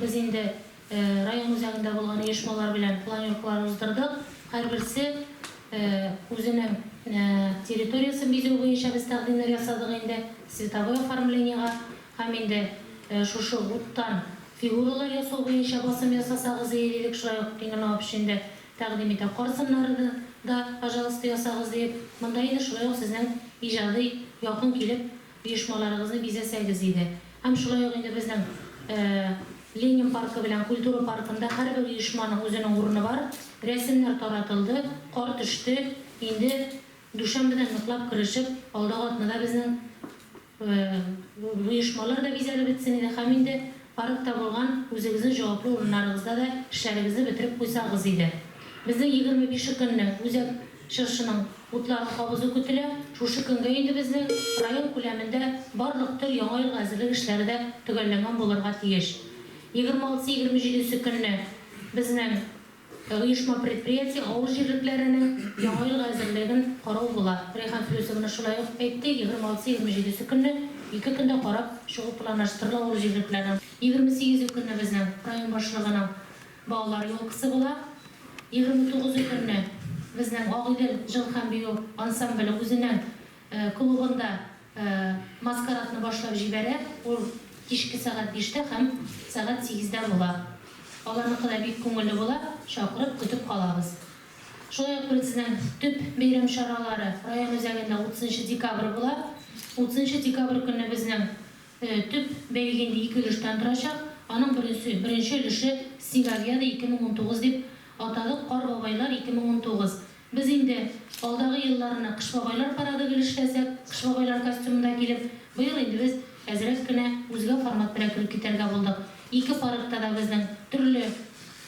Без инде район үзәгендә булган оешмалар белән планеркалар уздырдык. Һәрберсе үзенең территориясен бизәү буенча без тәкъдимнәр ясадык инде, цветовой оформлениегә. Һәм инде шушы уттан фигуралар ясау буенча басым ясасагыз ие дидек, шулай ук Тимер Налып өчен дә тәкъдим итә. Кар сыннарыны да, пожалуйста, ясагыз диеп, монда инде шулай ук сезнең иҗади якын килеп, Оешмаларыгызны бизәсәгез иде. Һәм шулай ук инде безнең Ленин паркы белән Культура паркында һәрбер оешманың үзенең урыны бар. Рәсемнәр таратылды, кар төште, инде дүшәмбедән ныклап керешеп, алдагы атнада безнең оешмалар да бизәлеп бетсен иде һәм инде Арып табылган үзегезнең җаваплы урыннарыгызда да эшләрегезне бетереп куйсагыз иде. Безнең егерме бише көнне Үзәк чыршының утларын кабызу көтелә. Шушы көнгә инде безнең район күләмендә барлык төр Яңа елга әзерлек эшләре дә төгәлләнгән булырга тиеш. Егерме алтысы-егерме җидесе көнне безнең Ә оешма-предприятие авыл җирлекләренең Яңа елга әзерлеген карау була. Рәйхан Флүсовна шулай ук әйтте, егерме алтысы-егерме җидесе көнне ике көндә карап чыгу планаштырыла авыл җирлекләренең. Егерме сигезе көнне безнең район башлыгының балалар елкасы була. Егерме тугызы көнне безнең Агыйдел җыл һәм бию ансамбле үзенең клубында. Маскарадны башлап җибәрә, ул кичке сәгать биштә һәм сәгать сигездә була. Аларныкы да бик күңелле була, чакырып, көтеп калабыз. Шулай ук безнең төп бәйрәм чаралары район үзәгендә утызынчы декабрь була. Утызынчы декабрь көнне безнең төп бәйге инде ике өлештән торачак. Аның беренче беренче өлеше Снеговьяды 2019 дип атадык, Кар бабайлар 2019. Без инде алдагы елларны Кыш бабайлар парады гел эшләсәк, Кыш бабайлар костюмында килеп, быел инде без әзрәк кенә үзгә формат белән кереп китәргә булдык. Ике парадта да безнең төрле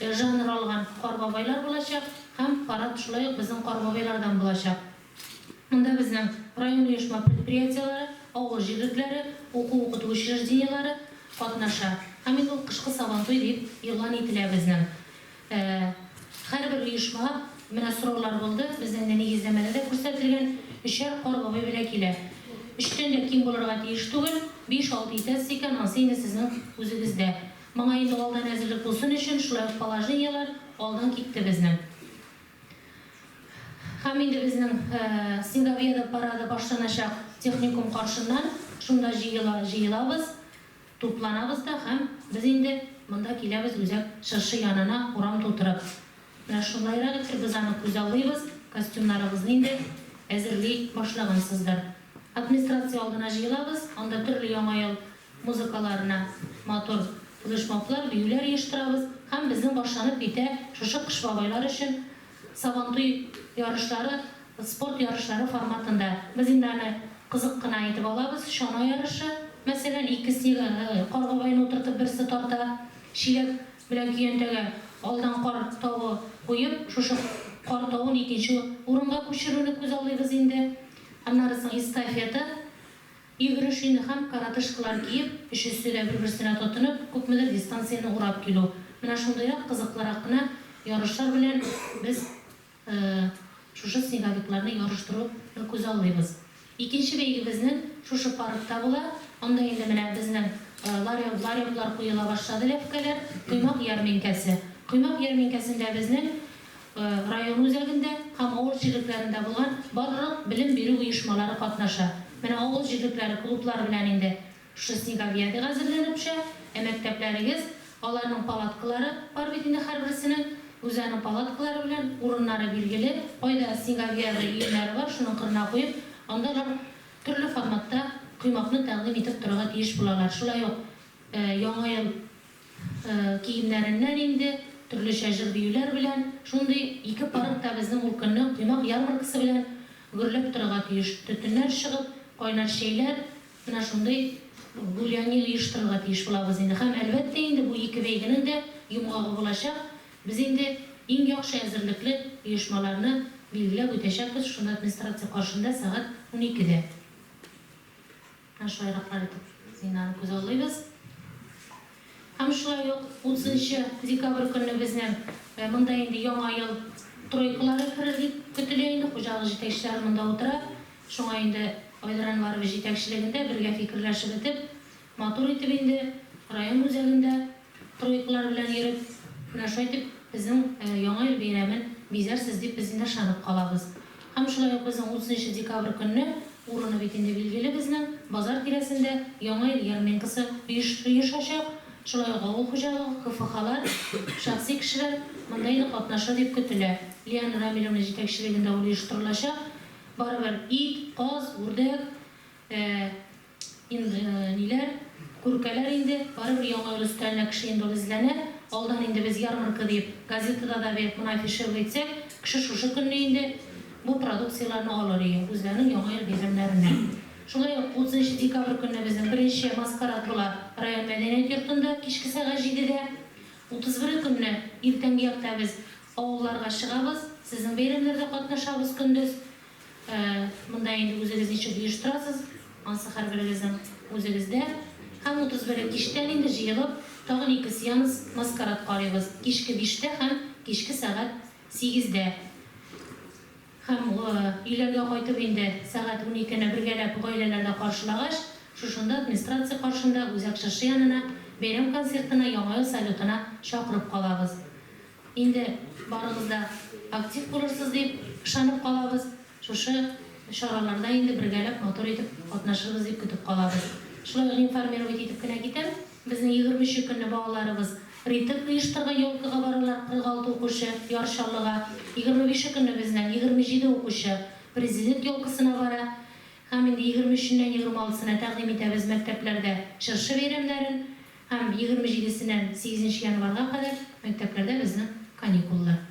жанр алган Кар бабайлар булачак һәм парад шулай ук безнең Кар бабайлардан булачак. Монда безнең район оешма предприятиеләре, авыл җирлекләре, уку-укыту учреждениеләре катнаша. Һәм инде ул Кышкы Сабантуй дип игълан ителә безнең. Ә һәрбер оешмага, менә сораулар булды, безнең дә нигезләмәдә дә күрсәтелгән, өчәр кар бабай белән килә. Өчтән дә ким булырга тиеш түгел, биш-алты итәсез икән, ансы инде сезнең үзегездә. Моңа инде алдан әзерлек булсын өчен, шулай ук положениеләр алдан китте безнең. Һәм инде безнең Сингавиада парады башланачак техникум каршыннан, шунда җыела, җыелабыз. Тупланабыз да һәм без инде монда киләбез үзәк чыршы янына урам тутырып. Менә шулайрак итеп без аны күзаллыйбыз, костюмнарыгызны инде әзерли башлагансыздыр. Администрация алдына җыелабыз, анда төрле Яңа ел музыкаларына матур флешмоблар, биюләр оештырабыз һәм безнең башланып китә шушы Кыш бабайлар өчен Сабантуй ярышлары спорт ярышлары форматында. Без инде аны кызык кына итеп алабыз. Чана ярышы, мәсәлән, ике снега каргагайны утыртып берсе тарта, чиләк белән көянтәгә алдан кар тавы куеп, шушы кар тавын икенче урынга күчерүне күзаллыйбыз инде. Аннары соң эстафета. Игрушины һәм коротышкалар киеп, өчесе дә бер-берсенә тотынып, күпмедер дистанцияне урап килү. Менә шундыйрак кызыклырак кына ярышлар белән без шушы снеговикларны ярыштыруны күзаллыйбыз. Икенче бәйгебезнең шушы паркта була. Анда инде менә безнең ларек, лареклар куела башлады, ләпкәләр, коймак ярминкәсе. Коймак ярминкәсендә безнең район үзәгендә һәм авыл җирлекләрендә булган барлык белем бирү оешмалары катнаша. Менә авыл җирлекләре клублары белән инде шушы снеговьядига әзерләнеп төшә. Ә мәктәпләрегез, аларның палаткалары бар бит инде һәрберсенең. Үзләренең палаткалары белән, урыннары билгеле, кайда снеговьяды өемнәре бар, шуның кырына куеп, анда алар төрле форматта коймакны тәкъдим итеп торырга тиеш булалар. Шулай ук Яңа ел. Киемнәреннән инде, төрлечә җыр-биюләр белән, шундый ике парк та безнең ул көнне коймак ярмаркасы белән гөрләп торырга тиеш. Төтеннәр чыгып, кайнар чәйләр, менә шундый гуляние оештырырга тиеш булабыз инде. Һәм, әлбәттә инде, бу ике бәйгенең дә йомгагы булачак. Без инде иң яхшы әзерлекле оешмаларны билгеләп үтәчәкбез шунда администрация каршында сәгать уникедә. Менә шулайраклар итеп зинаны күзаллыйбыз. Һәм шулай ук 30 декабрь көнне безнең монда инде Яңа ел тройкалары керер дип көтелә инде. Хуҗалык җитәкчеләре монда утыра. Шуңа инде Айдар Әнваров җитәкчелегендә бергә фикерләшеп итеп, матур итеп инде район үзәгендә, Троекалар белән йөреп, менә шулай итеп безнең Яңа ел бәйрәмен бизәрсез дип без инде ышанып калабыз. Һәм шулай ук безнең 30 нчы декабрь көнне, урыны бит инде билгеле безнең, базар тирәсендә Яңа ел ярминкасы оешачак, шулай ук авыл хуҗалыгы, КФХлар, шәхси кешеләр монда инде катнашыр дип көтелә. Лиана Рамилевна җитәкчелегендә ул оештырылачак. Барыбер ит, каз, үрдәк, Инг ниләр, күркәләр инде, барыбер яңа ел өстәленә кеше инде ул эзләнә, алдан инде без ярмарка диеп, газетада да бе моны афишировать итсәк, кеше шушы көнне инде бу продукцияләрне алыр ие, үзләренең яңа ел бәйрәмнәренә. Шулай ук 30 декабрь көнне безнең беренче маскарад була район мәдәният йортында, кичке сәгать җидедә. 31 е көнне иртәнге якта без авылларга чыгабыз, сезнең бәйрәмнәрдә катнашабыз көндез. Монда инде үзегез ничек оештырасыз, ансы һәрберегезнең үзегездә. Һәм 31 кичтән инде җыелып, тагын ике сеанс маскарад карыйбыз, кичке биштә һәм кичке сәгать сигездә. Һәм өйләргә кайтып инде сәгать уникене бергәләп гаиләләрдә каршылагач, шушында администрация каршында үзәк чыршы янына бәйрәм концертына, Яңа ел салютына чакырып калабыз. Инде барыгыз да актив булырсыз дип ышанып калабыз. Шушы чараларда инде бергәләп матур итеп катнашырбыз дип көтеп калабыз. Шулай ук информировать итеп кенә китәм, безнең егерме нче көнне балаларыбыз ритм оештырган, елкага баралар, 46 укучы, Яр Чаллыга. Егерме бише көнне безнең егерме җиде укучы Президент елкасына бара. Һәм инде егерме өченнән егерме алтысына тәкъдим итәбез мәктәпләрдә чыршы бәйрәмнәрен. Һәм егерме җидесеннән сигезенче январьга кадәр мәктәпләрдә безнең каникуллар.